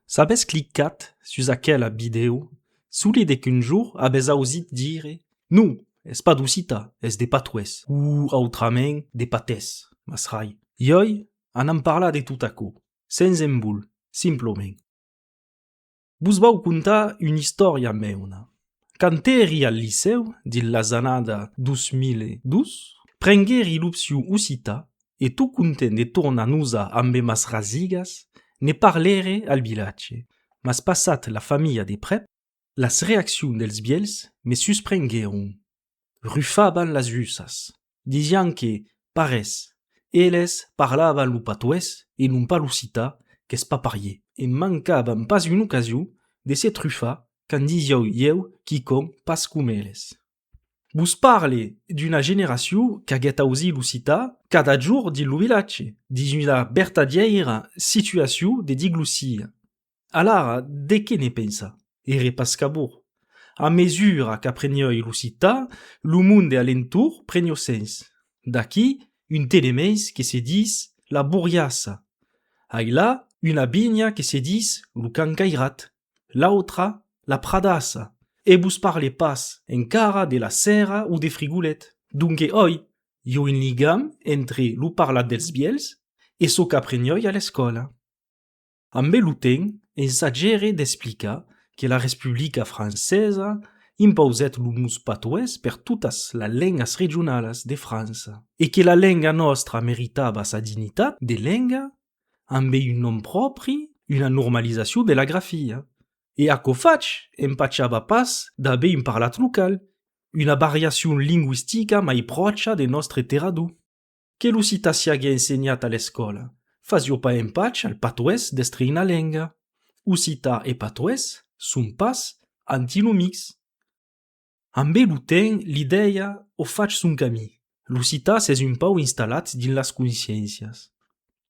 S'abès clicat sus aquela vidèo, solide qu'un jour abès ausit dire, Non, es pas d'Occità, es de Patoès, o autrament de Patès, mas rai. Ioi anam parlar de tot aquò, sens embol, simplament. Vos vau contar una istòria meuna, Quand èri al licèu dins las annada 2002, prenguèri l'opcion occità e tot content de tornar nosar ambe mas rasigas, ne parlère al vilatge, mas passat la familha de prèp, las reaccions dels vièlhs me susprenguèron. rufaban las usas, disián que, parés, eles parlavan lo patoés e non pas l'occità qu'es pas parier. E mancavan pas una ocasion de se trufar quand disieu ieu quicòm pas com eles. Vos parle d'una generacion qu'aguèt ausí l'occità cada jorn dins lo vilatge, dins una vertadièira situacion de diglossia. Alara, de qué ne pensa? Ère pas cabor. A mesura qu'aprenioi l'occitan, lo monde alentor prenió sens. D'aquí, un tenements que se dis La Borriassa. Ailà, una vinha que se dis Lo Can Cairat. L'autra, La Pradassa. E vos parle pas encara de La Sèrra o de Frigolet. Donque oi, i a un ligam entre lo parlat dels vièlhs e çò qu'aprenioi a l'escòla. Ambe lo temps, ensagere d'explicar que la Respublica Francesa impausèt lo mos patoès per totas las lengas regionalas de França e que la lenga nòstra meritava sa dignitat de lenga ambe un nom pròpri, una normalizacion de la grafia. E aquò fach, empachava pas d'aver un parlat local, una variacion lingüistica mai pròcha de nòstre terrador. que lo cita siague ensenhat a l'escòla, fasió pas empach al patoès d'estrinar lenga. Occità e patoès son pas antinomics. Ambe lo temps l'idèia o fach son camí, l'occità s'es un pauc installat dins las consciéncias.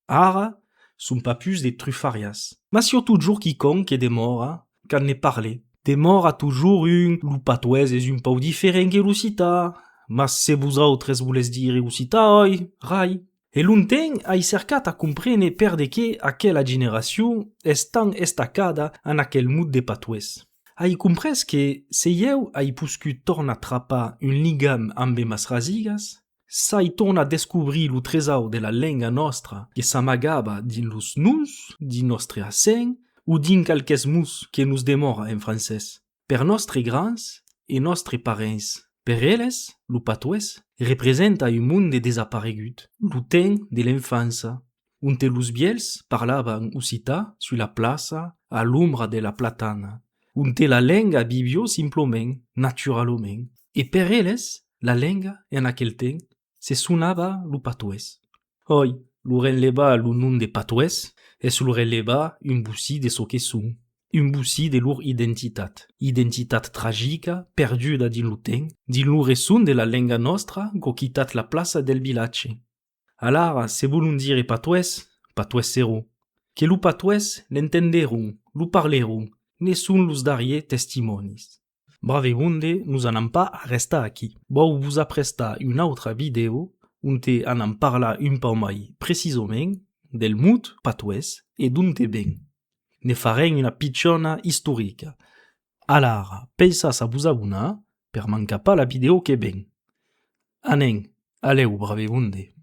Ara, son pas pus de trufariás. Mas si o totjor quicòm que demòra, quand ne parle, demòra totjor un, lo patoés es un pauc diferent que l'ocità, mas se vosautres volètz dire ocità, oi rai. E longtemps ai cercat a comprene per de qué aquela generacion es tant estacada en aquel mot de patoés. Ai comprés que, se ieu ai poscut tornar trapar un ligam ambe mas rasigas, S'ai tornat descobrir lo tresaur de la lenga nòstra que s'amagava dins los nus, dins nòstre accent o dins qualques mots que nos demòra en francés. Per nòstre grands e nòstre parents, per eles, lo patois representa un monde desaparegut, lo temps de l'enfança, onte los vièlhs parlavan occità sus la plaça a l'ombra de la platana, onte la lenga vivió simplament, naturalament, e per eles la lenga en aquel temps se sonava lo patoés. Oi, lo renlevar lo nom de patoés es lo renlevar un bocí de çò que son, un bocí de lor identitat, identitat tragica perduda dins lo temps, dins lo resson de la lenga nòstra qu'occitat la plaça del vilatge. Alara se volon dire patoès, patoèsseron, que lo patoès l'entenderon, lo parleron, ne son los darrier testimònis. Bravegonde nos anam pas arrestar aquí. Vau vos aprestar una autra vidèo onte anam parlar un pauc mai precisament del mot patoès e d'onte ven. Ne farem una pichona istorica. Alara pensatz a vos abonar per mancar pas la vidèo que ven. Anem, alèu Bravegonde.